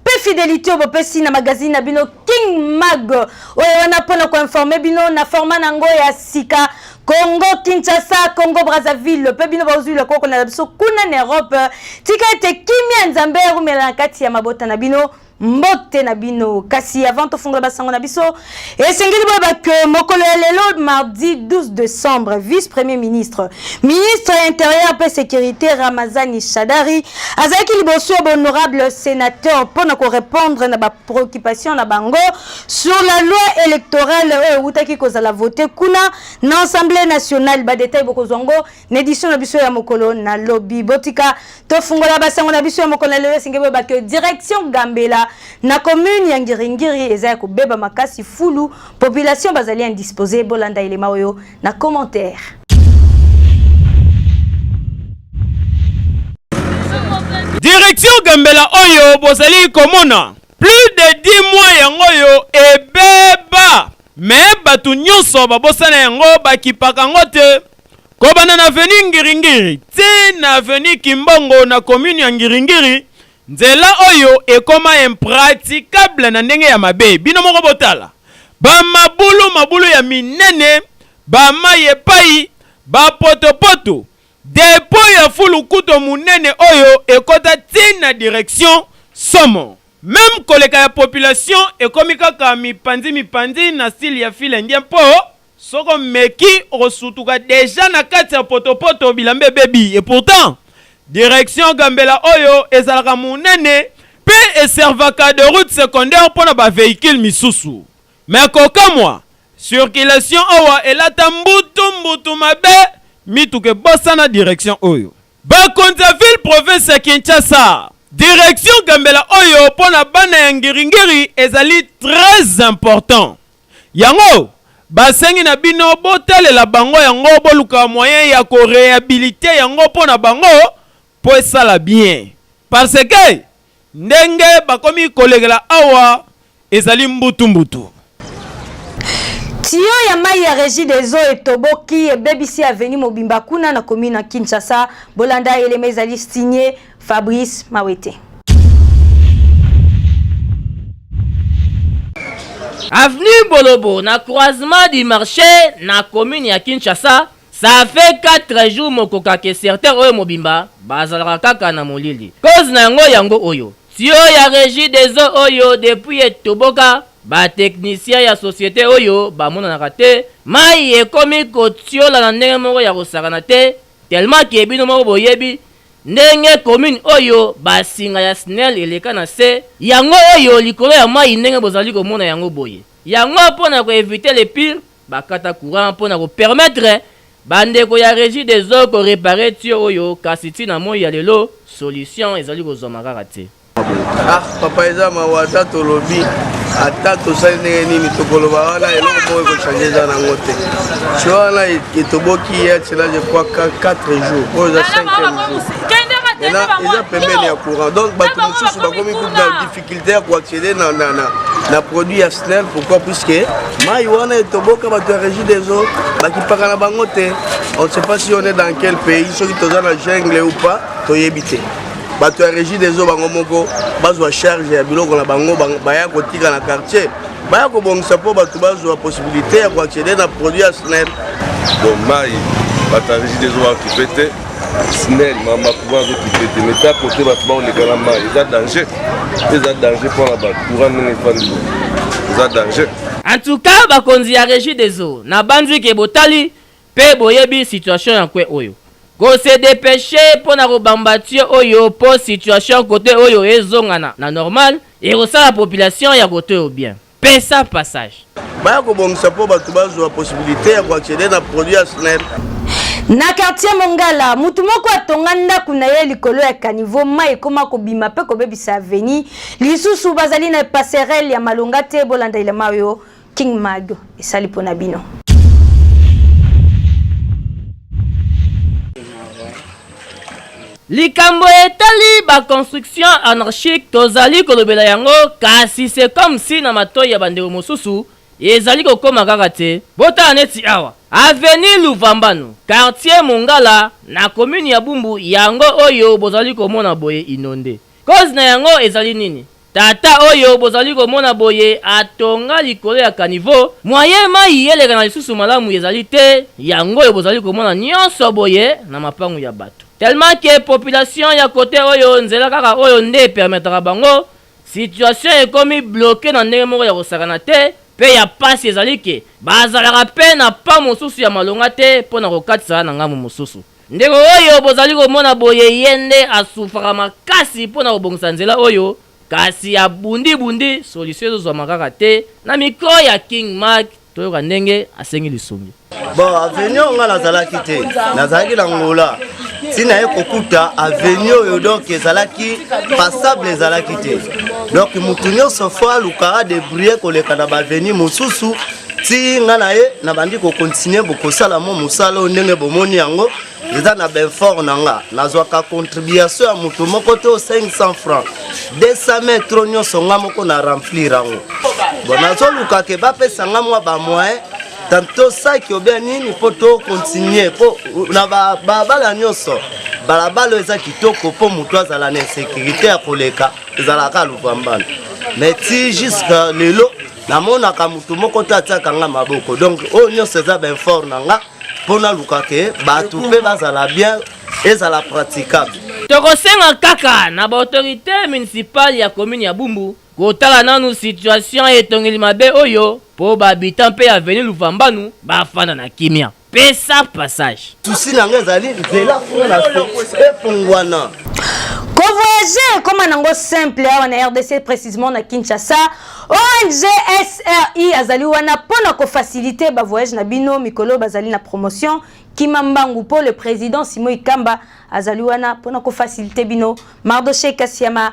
mpe fidelité oyo bopesi na magazine na bino king mag oyo wana mpo na koinforme bino na format na yango ya sika congo kinshasa congo brazzaville mpe bino baozwi lokoko na biso kuna na europe tika ete kimia nzambe arumela na kati ya mabota na bino mbote na bino kasi avant tofungola basango na biso esengeli boyeba ke mokolo ya lelo mardi 12 décembre vice premier ministre ministre ya intérieur mpe sécurité ramazani shadari azalaki liboso ya bahonorable sénateur mpo na korépondre na bapréoccupation na bango sur la loi électorale oyo ewutaki kozala vote kuna na assemblée nationale badetail bokozwa ngo na édition na biso ya mokolo na lobi botika tofungola basango na biso ya mokolo na lobi esengi boyeba ke direction gambela na commune ya ngiringiri eza ya kobeba makasi fulu population bazali indispose bolanda elema oyo na commentaire direction gambela oyo bozali komona plus de 10 mois yango oyo ebeba me bato nyonso babosana yango bakipaka yango te Kobanda na avenue Ngiringiri tee na avenue Kimbongo na commune ya Ngiringiri, nzela oyo ekoma impraticable na ndenge ya mabe. Bino moko botala ba mabulu mabulu ya minene, ba mayi epayi, ba potopoto. Depot ya fulu kuto munene oyo ekota tii na direction Somo. Meme koleka ya population ekomi kaka mipanzi mipanzi na style ya fil indien mpo Soki omeki okosutuka dejà na kati ya potopoto bilamba ebebi et pourtant direction Gambela oyo ezalaka munene pe e servaka de route secondaire pona ba vehicules misusu mais kokamua circulation awa elata mbutu mbutu mabe mituka ebosana direction oyo. Bakonzi ya ville province ya Kinshasa, direction Gambela oyo pona bana ya ngiri ngiri ezali très important Yango ba sengi na bino bo talela bango yango boluka moyen ya ko rehabiliter yango po na bango po esala bien parce que ndenge bakomi kolekela awa ezali mbutu mbutu. Tuyau ya mayi ya Regideso etoboki, ebebisi avenue mobimba kuna na commune ya Kinshasa. Bolanda elema ezali signe Fabrice Mawete. Avenue Bolobo na croisement du marché na commune ya Kinshasa, ça fait 4 jours mokoka ke certains oyo mobimba bazalaka kaka na molili. Cause na yango yango oyo. Tio ya regie des eaux oyo depuis etoboka, ba techniciens ya societe oyo bamonanaka te, mayi ekomi kotiola na ndenge moko ya kosakana te, Tellement que bino moko boyebi ndenge commune oyo ba singa ya snel eleka na se yango oyo likolo ya mayi ndenge bozali komona yango boye. Yango mpo na ko eviter le pire ba kata courant mpo na ko permettre ba ndeko ya regie des eaux ko reparer tuyau oyo kasi ti na moyi ya lelo solution ezali kozwama kaka te. Ah, papa eza mawa ata tolobi ata tosali ndenge nini tokoloba wana eloko moko ekochange eza nango te ti wana etoboki ye atyela je crois 4 jours oyo eza 5 jours eza pembeni ya courant donc bato mosusu bakomi kutu na difficulté ya koaccéder na, na, na, na produit ya snel pourquoi puisque mai wana etoboka bato ya régie des eaux bakipaka na bango te on ne sait pas si on est dans quel pays soki toza na jungle ou pas toyebi te bato ya régie des eaux bango moko bazwa charge ya biloko na bango baya kotika na quartier baya kobongisa mpo bato bazwa possibilité ya koaccéder na produit ya snel donc mai bato ya régie des eaux bakipe te snel mamakuma azokipe te mais ta kote bato baoleka na mai eza danger eza danger mpo na bato courant ndenge efandi eza danger en tout cas bakonzi ya régie des eaux nabanzi ke botali Pe boyebi situation ya coin oyo. Ko se depecher pona ko bamba tuyau oyo po situation cote oyo ezonga na na normal, ekosala population ya cote oyo bien. Pesa passage. Baya kobongisa mpo bato bazwa possibilite ya ko acceder na produit ya Snel. Na quartier Mongala, moto moko atonga ndako na ye likolo ya caniveau, mai ekoma kobima mpe kobebisa avenue. Lisusu, bazali na passerelle ya malonga te, bolanda elema oyo King Mag esali pona bino. likambo etali baconstruction anarchique tozali kolobela yango kasi se comme si na matoi ya bandeko mosusu ezali kokoma kaka te botala neti awa aveni luvambano quartier mongala na komini ya bumbu yango oyo bozali komona boye inonde Cause na yango ezali nini? Tata oyo bozali komona boye atonga likolo ya caniveau, moyen mayi eleka na lisusu malamu ezali te, yango oyo bozali komona nionso boye na mapangu ya batu. Tellement que population ya cote oyo nzela kaka oyo nde e permetaka bango, situation ekomi bloquer na ndenge moko ya kosakana te, pe ya pasi ezali que bazalaka pe na pont mosusu ya malonga te pona kokatisa na ngambo mosusu. Ndeko oyo bozali komona boye ye nde asufraka makasi mpo na kobongisa nzela oyo kasi abundi bundi solution ezo zwama kaka te na micro ya king mark toyoka ndenge asengi lisungi. Bon avenue oyo nga nazalaki te nazalaki na ngola ntina ye kokuta avenue oyo donk ezalaki passable ezalaki te donk motu nyonso fo aluka adebrouille koleka na baavenue mosusu ti nga na ye nabandi kokontinue bokosala mo mosala oyo ndenge bomoni yango eza na benfort na nga nazwaka contribution ya moto moko to 500 franc 200 metro nyonso nga moko na remplir yango bo nazoluka ke bapesa nga mwa bamoyen tanto saki obia nini mpo tokontinue mpo na babala nyonso balabala eza kitoko mpo moto azala na insécurité ya koleka ezalaka luvambana mais ti jusque lelo namonaka motu moko te atiaka nga maboko donc oyo nyonso eza bainfort na nga mpo naluka ke bato mpe bazala bien ezala praticable tokosenga kaka na baautorité municipale ya commune ya bumbu kotala nanu situation ya etongeli mabe oyo mpo bahabitant mpe ya veni luvambanu bafanda na kimia pesa passage susi na nga ezali nzela kuna na se efungwana kovoyage ekoma nango simple awa na rdc précisément na kinshasa ong sri azali wana mpo na kofacilite bavoyage na bino mikolo bazali na promotion kima mbangu mpo le président simo ikamba azali wana mpo na kofacilite bino mardoche kasiama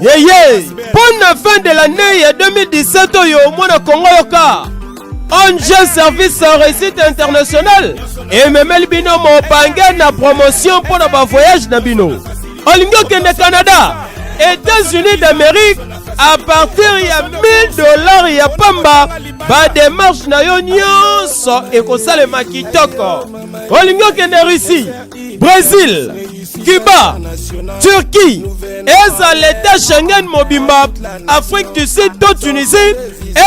yeye mpo na fin de l'année ya 2017 oyo mwana kongo yoka ong service réussite international ememeli bino mobange na promotion mpo na bavoyage na bino olingi okende canada états-unis d'amérique à partir ya 1000 dollars ya pamba bademarche na yo nyonso ekosalema kitoko olingi okende russie Brésil, Cuba, Turquie, ezala l'État Schengen mobimba, Afrique du Sud to Tunisie,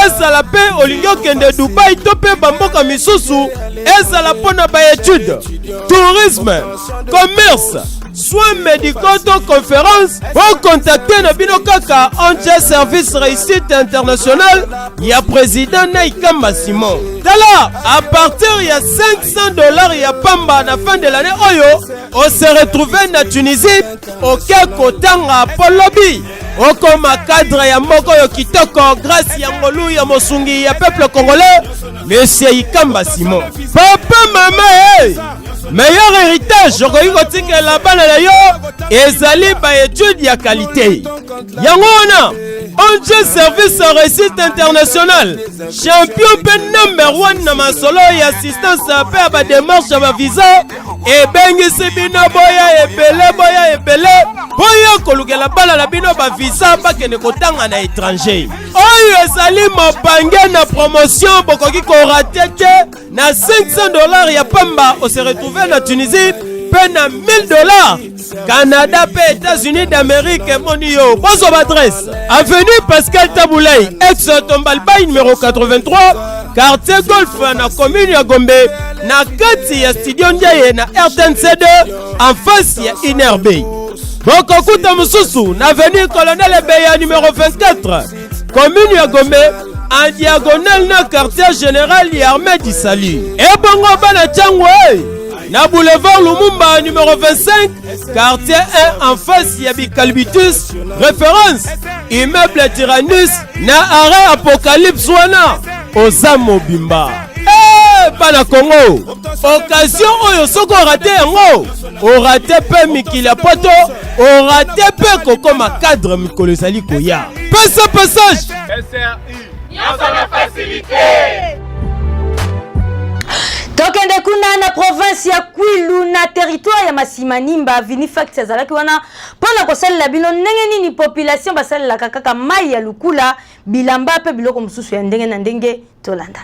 ezala mpe olingi okende Dubaï to mpe bamboka misusu, ezala mpo na baetude, tourisme, commerce, soins médicaux to conférence, bokontakte na bino kaka ONG Service Réussite International ya président Naikamba Simon. Tala, à partir ya 5 100 dollars ya pamba na fin de l'année oyo on se retrouve na Tunisie oke kotanga po lobi okoma cadre ya moko yo kitoko grâce ya ngolu ya mosungi ya peuple congolais monsieur Ikamba Simon papa mama hey! Eh! meilleur héritage okoki kotikela bana na yo ezali ba étude ya qualité yango wana ong service ya réussite international champion mpe number 1 na masolo ya assistance mpe ya bademarche ya bavisa ebengisi bino boya ebele boya ebele boya kolukela bana na bino bavisa bakende kotanga na étranger oyo ezali mopange na promotion bokoki korate te na 500 dollars ya pamba ose retrouve na tunisie mpe na 1000 dollars canada mpe états-unis d'amérique emoni yo bozwa baadresse avenue pascal tabulei ex tombalbai numero 83 quartier golf na commune ya gombe na kati ya studio ndiaye na rtnc2 en face ya inerbe bokokuta mosusu na avenue colonel ebeya numero 24 commune ya gombe en diagonale na quartier général ya armée du salut ebongo bana ntango e na boulevard lumumba numero 25 quartier 1 en face ya bicalbitus référence immeuble tyrannus na arrêt apocalypse wana oza mobimba hey, bana kongo okazio oyo soki orate yango orate mpe mikili ya poto orate mpe kokoma cadre mikolo ezali koya pesa passage SRI. nyonso na fasilite tokende kuna na province ya kwilu na territoire ya masimanimba vinifact azalaki wana mpo na kosalela bino ndenge nini population basalelaka kaka mai ya lukula bilamba mpe biloko mosusu ya ndenge na ndenge tolanda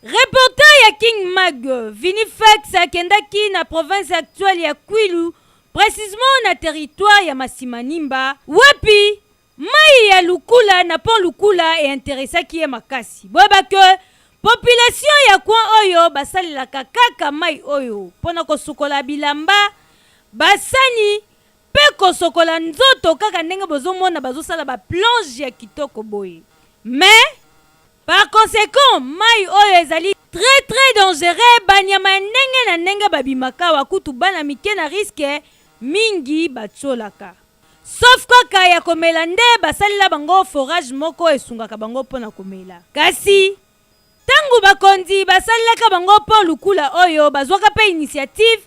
Reporter ya King Mag, Vinny Fax akendaki na province actuelle ya Kwilu, precisement na territoire ya Masimanimba, wapi mayi ya Lukula na pont Lukula e interessaki ye makasi. Boyeba que population ya coin oyo basalelaka kaka mayi oyo pona kosukola bilamba, ba sani pe kosokola nzoto kaka ndenge bozomona bazosala ba plonges ya kitoko boye. Mais Par consequent, mayi oyo ezali très très dangereux, ba nyama ya ndenge na ndenge ba bimaka awa, kutu bana mike na risque mingi ba tsholaka. Sauf kaka ya komela nde ba salela bango forage moko esungaka bango mpo na komela. Kasi, tango bakonzi ba salelaka bango pont lukula oyo, bazwaka mpe initiative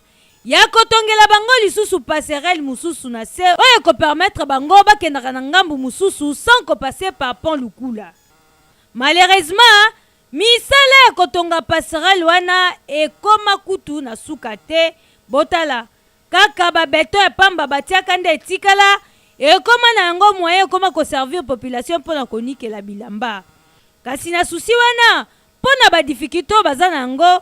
ya ko tongela bango lisusu passerelle mosusu na se oyo eko permettre bango bakendaka na ngambu mosusu sans ko passer par pont lukula. Malheureusement, misala ya kotonga passerelle wana ekoma kutu na suka te. Botala, kaka ba betons ya pamba batiaka nde etikala, ekoma na yango moyen ekoma ko servir population mpo na konikela bilamba. Kasi na souci wana, mpo na ba difficultes oyo baza na yango,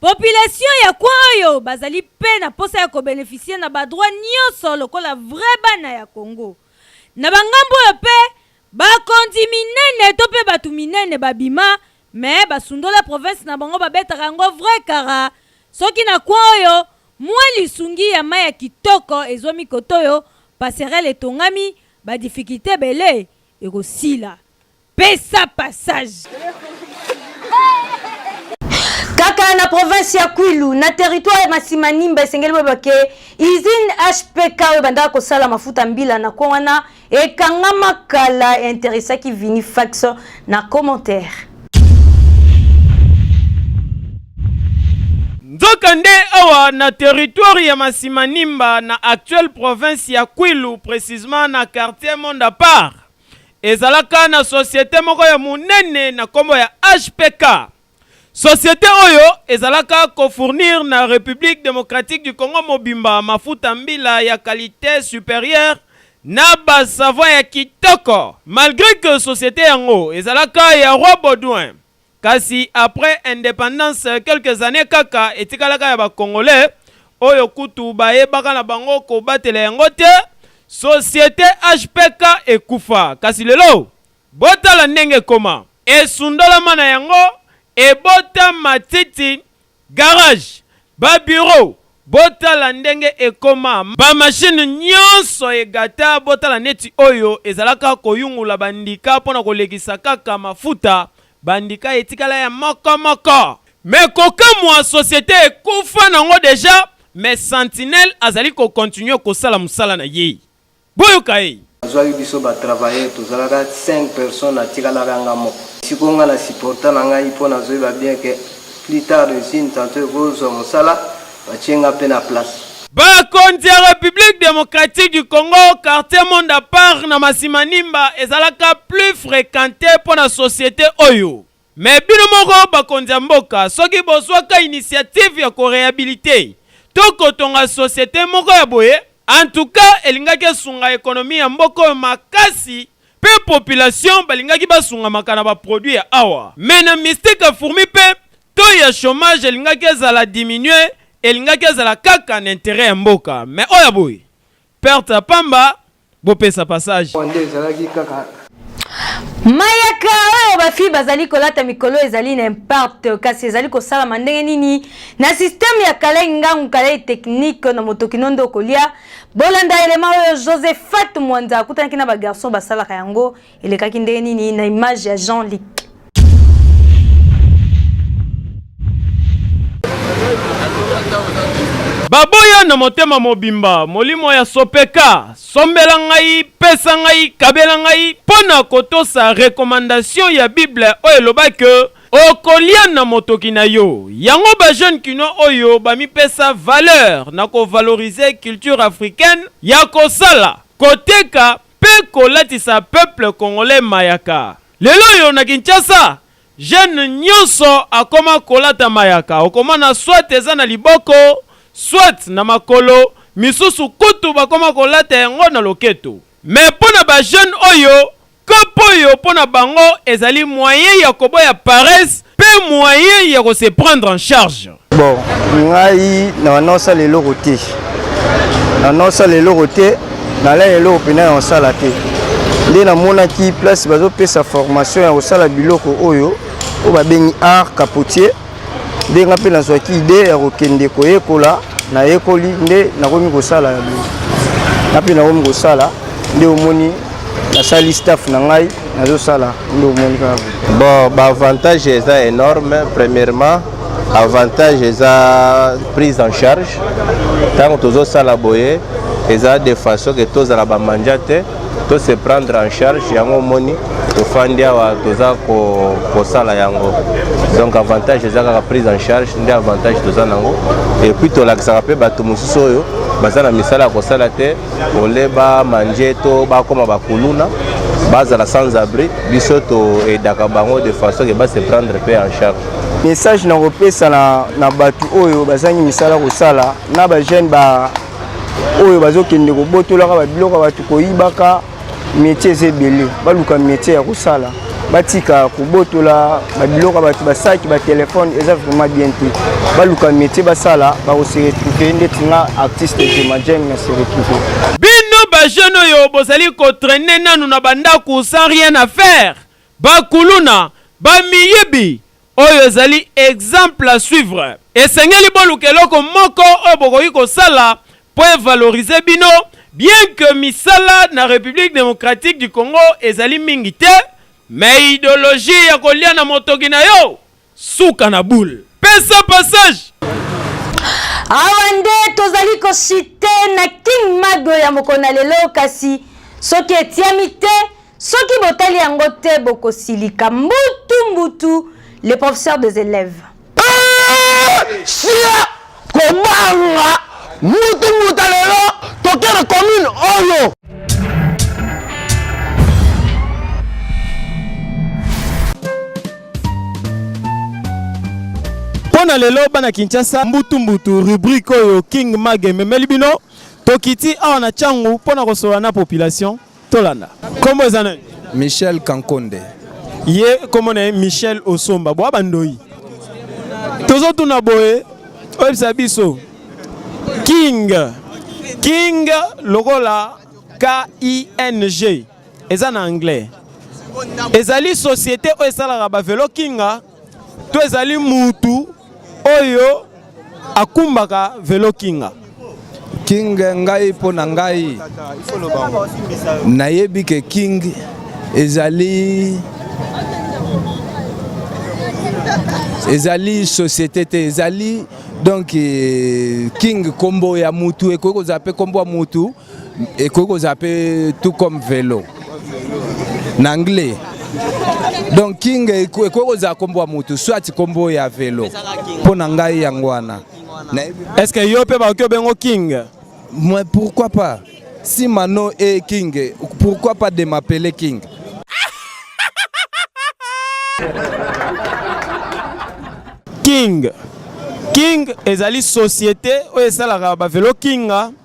Population ya coin oyo bazali mpe na mposa ya ko beneficier na ba droits nionso lokola vrais bana ya Congo. Na ba ngambo oyo mpe, bakonzi minene to mpe batu minene babima mais basundola province na bango babetaka yango vrai kara soki na coin oyo mua lisungi ya mayi ya kitoko ezwami kotoyo passerelle etongami ba difficultes ebele ekosila. Pesa passage. kaka na province ya kwilu na territoire ya masimanimba esengeli boyeba ke usine hpk oyo ebandaka kosala mafuta mbila na ko wana ekangama kala interesaki vini fax na commentaire nzoka nde awa na territoire ya masimanimba na actuelle province ya kwilu precisement na quartier monde apart Ezalaka na societe moko ya munene na kombo ya HPK. Societe oyo ezalaka ko fournir na Republique Democratique du Congo mobimba mafuta mbila ya qualite superieure na ba savons ya kitoko. Malgre que societe yango ezalaka ya Roi Baudouin, Kasi après independance quelques annees kaka etikalaka ya ba congolais oyo kutu bayebaka na bango kobatela yango te, societe HPK ekufa kasi lelo botala ndenge ekoma. Esundolama na yango ebota matiti Garage, ba bureaux botala ndenge ekoma, ba machines nionso egata, botala neti oyo ezalaka koyungula ba ndika pona kolekisa kaka mafuta, ba ndika etikala ya moko moko. Mais kokamua societe ekufa nango deja mais sentinelle azali ko continuer kosala musala na ye. Boyoka ye. Azwaki biso ba travailleurs tozalaka cinq personnes atikalaka nga moko. Sikoyo nga na supporta na ngai po nazoyeba bien que plus tard usine tantot ekozwa mosala batie nga pe na place. Ba konzi ya Republique Democratique du Congo, quartier monde apart na Masimanimba ezalaka plus frequente po na societe oyo. Mais bino moko bakonzi ya mboka soki bozwaka initiative ya ko rehabiliter to kotonga societe moko ya boye en tout cas elingaki esunga economie ya mboka oyo makasi pe population balingaki basungamaka na ba produits ya awa mais na mystique ya fourmi pe taux ya chomage elingaki ezala diminuer elingaki ezala kaka na interet ya mboka mais oyo ya boye Perte ya pamba, bopesa passage. Mayaka oyo bafi bazali kolata mikolo ezali na impact kasi ezali kosalama ndenge nini na systeme ya kalai ngangu kalai technique na motoki no nde okolia bolanda elema oyo josephat mwanza akutanaki na bagarçon basalaka yango elekaki ndenge nini na image ya jean lic baboya na motema mobimba molimo ya sopeka sombela ngai pesa ngai kabela ngai mpo na kotosa rekomandasio ya biblia oyo elobaki okolia na motoki na yo yango bajeune kinois oyo bamipesa valeur na kovalorize culture africaine ya kosala koteka pe kolatisa peuple congolais mayaka. Lelo oyo na Kinshasa jeune nionso akoma kolata mayaka, okomona soit eza na liboko, soit na makolo, misusu kutu bakoma kolata yango na loketo. Mais pona ba jeunes oyo, coop oyo pona bango ezali moyen ya koboya paresse pe moyen ya ko se prendre en charge. Bon, ngai na naosala eloko te, na naosala eloko te, nalai eloko mpena ya kosala te. Nde namonaki place bazopesa formation ya kosala biloko oyo oyo babengi art capotier, nde ngai mpe nazwaki idee ya kokende koyekola. Nayekoli nde nakomi kosala yango, ngai mpe nakomi kosala, nde omoni nasali staff na ngai. nazosala nde omoni kaka bon baavantage eza énorme premièrement avantage eza prise en charge ntango tozosala boye eza de façon ke tozala bamanja te to se prendre en charge yango omoni tofandi awa toza kosala yango donc avantage eza kaka prise en charge nde avantage toza nango epuis tolakisaka mpe bato mosusu oyo baza na misala ya kosala te ole ba manje to bakoma bakuluna bazala sans abri biso toedaka bango de façon ke base prendre mpe en charge message na kopesa na, na bato oyo bazangi misala kosala na bajeune ba oyo bazokende kobotolaka babiloko ya bato koyibaka Metier eza ebele, baluka metier ya kosala, batika kobotola babiloko ya bato, basaki, batelefone, eza vraiment bien te. Baluka metier basala, bakose retrouve ndeti nga artiste Jema Jeng na se retrouve. Bino ba jeune oyo bozali kotraine nanu na bandako sans rien à faire, bakuluna, bamiyibi, Oyo ezali exemple à suivre. Esengeli boluka eloko moko oyo bokoki kosala mpo e valoriser bino, bien que misala na Republique Democratique du Congo ezali mingi te, mais ideologie ya kolia na motoki na yo, suka na boule. Pesa passage! Awa nde tozali ko chuter na King Mago ya mokolo na lelo, kasi soki etiami te, Soki botali yango te bokosilika mbutu mbutu le professeur des élèves. Eh, sia kobanga mutu muta lelo tokere commune oyo mpo na lelo bana kinshasa mbutumbutu rubrike oyo king mage ememeli bino tokiti awa na cangu mpo na kosolola na population Tolanda. Kombo eza nani? Michel Kankonde. Ye kombo na ye Michel Osomba. Boa bandoyi. Tozotuna boye oyebisa biso King King lokola K-I-N-G eza na anglais ezali société oyo esalaka ba velo kinga to ezali mutu oyo akumbaka velo kinga king ngai mpo na ngai nayebi ke king ezali ezali société te ezali donc eh, king kombo ya mutu ekoki kozala mpe kombo ya mutu ekoki kozala mpe tout comme velo na anglais donc king ekoki kozala nkombo ya motu soit nkombo ya velo mpo na ngai yango wana est ce que yo mpe bakoki obengo king mais pourquoi pas si mano e king pourquoi pas de m'appeler king king king ezali société oyo esalaka bavelo kinga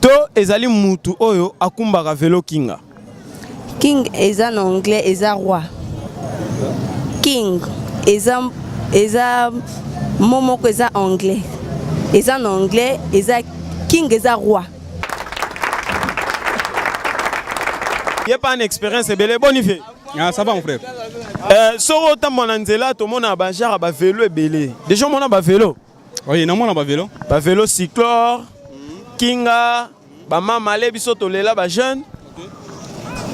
to ezali mutu oyo akumbaka velo kinga king eza na anglais eza roi king eza eza mo moko eza anglais eza na anglais eza king eza roi ye pa na expérience ebele boni vie ah, ça va mon frère euh, soko otambola na nzela tomona bajara bavelo ebele déjà omona bavelo Oui, na mwana ba velo. Ba velo cyclor, kinga, ba mama le biso tolela ba jeune.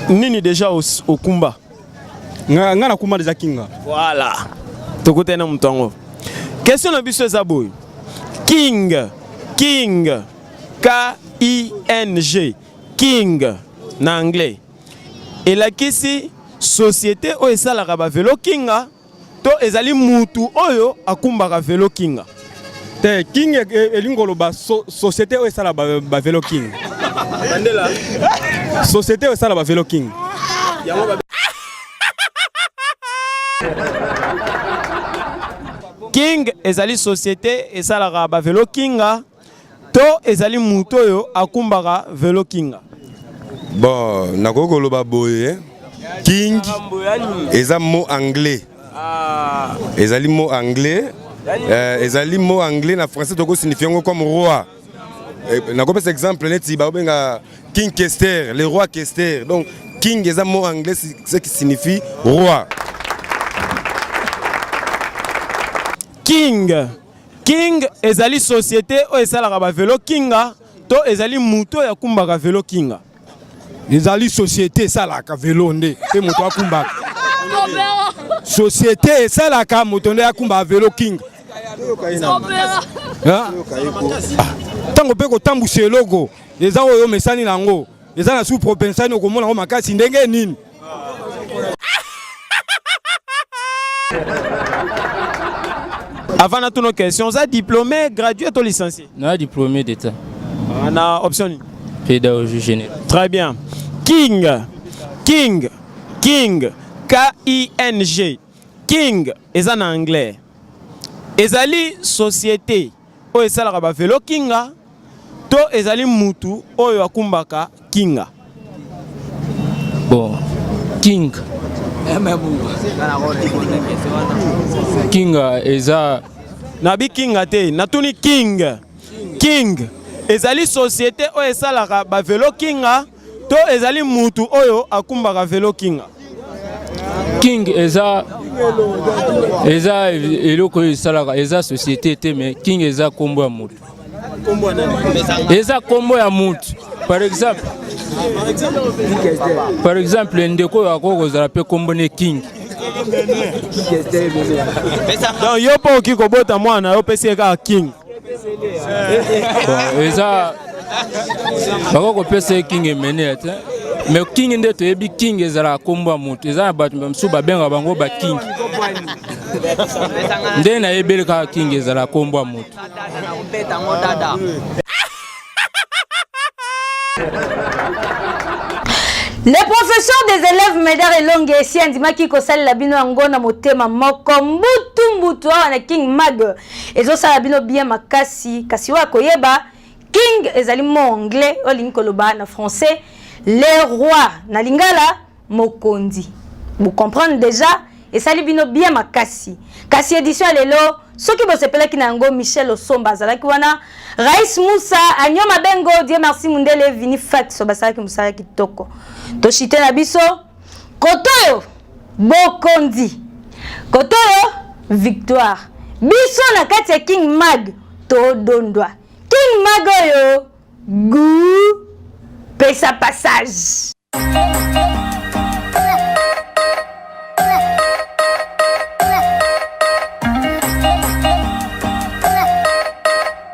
Nini déjà au, au kumba? Nga nga na kumba déjà kinga. Voilà. Tokutana na moto yango. Question na biso eza boye. King, king, K I N G, king na anglais. Elakisi société oyo esalaka ba velo kinga. To ezali mutu oyo akumbaka velo kinga. Te king e, e, elingi koloba société oyo esala ba velo king. Bandela. Société oyo esala ba velo king. Yango ba King ezali société esalaka ba velo kinga. to ezali moto oyo akumbaka velo kinga bon nakoki koloba boye eh. king eza mot anglais ah. ezali mot anglais euh, ezali mot anglais na français toko signifie yango comme roi eh, nakopesa exemple neti bakobenga king kester le roi kester donc king eza mot anglais ce qui signifie roi king King ezali société oyo esalaka ba velo Kinga to ezali moto oyo akumbaka velo Kinga. Ezali société esalaka velo nde pe moto akumbaka. Société esalaka moto nde akumbaka velo Kinga. Tango pe kotambwisa eloko eza oyo omesani na yango. eza na sous propensani okomona yango makasi ndenge nini avant natuna question oza diplômé gradué to licencié na diplômé d'état ah, na option nini pédagogie générale très bien king king king k-i-n-g king eza na anglais ezali société oyo esalaka ba velo kinga to ezali mutu oyo akumbaka kinga bon king kinga eza nabi kinga te natuni king king ezali societe oyo esalaka ba velo kinga To ezali mutu oyo akumbaka velo kinga? King eza eza eloko oyo esalaka eza société te mais King eza kombo ya mutu. Eza kombo ya mutu. Par exemple Par exemple ndeko oyo akoki kozala pe kombo ne King. Donc yo po oki kobota mwana yo pesi ye kaka King. bon eza bakoki kopesa ye king emenea te mais king nde toyebi king ezalaka nkombo ya moto eza na bato mosusu babengaka bango baking nde nayebeli kaka king ezalaka nkombo ya moto le professeur des élèves medar elonge esi andimaki kosalela bino yango na motema moko mbutu mbutu awa na king mag ezosala bino bien makasi kasi oyo akoyeba king ezali mo anglais oyo alingi koloba na français le roi na lingala mokonzi bocomprendre déjà esali bino bien makasi kasi édition ya lelo soki bosepelaki na yango michel osomba azalaki wana rais musa anio mabengo dieu merci mundele vini faxo basalaki mosala kitoko toshite na biso Kotoyo bokonzi. Kotoyo victoire. Biso na kati ya King Mag todondwa. King Mag oyo goût pesa passage.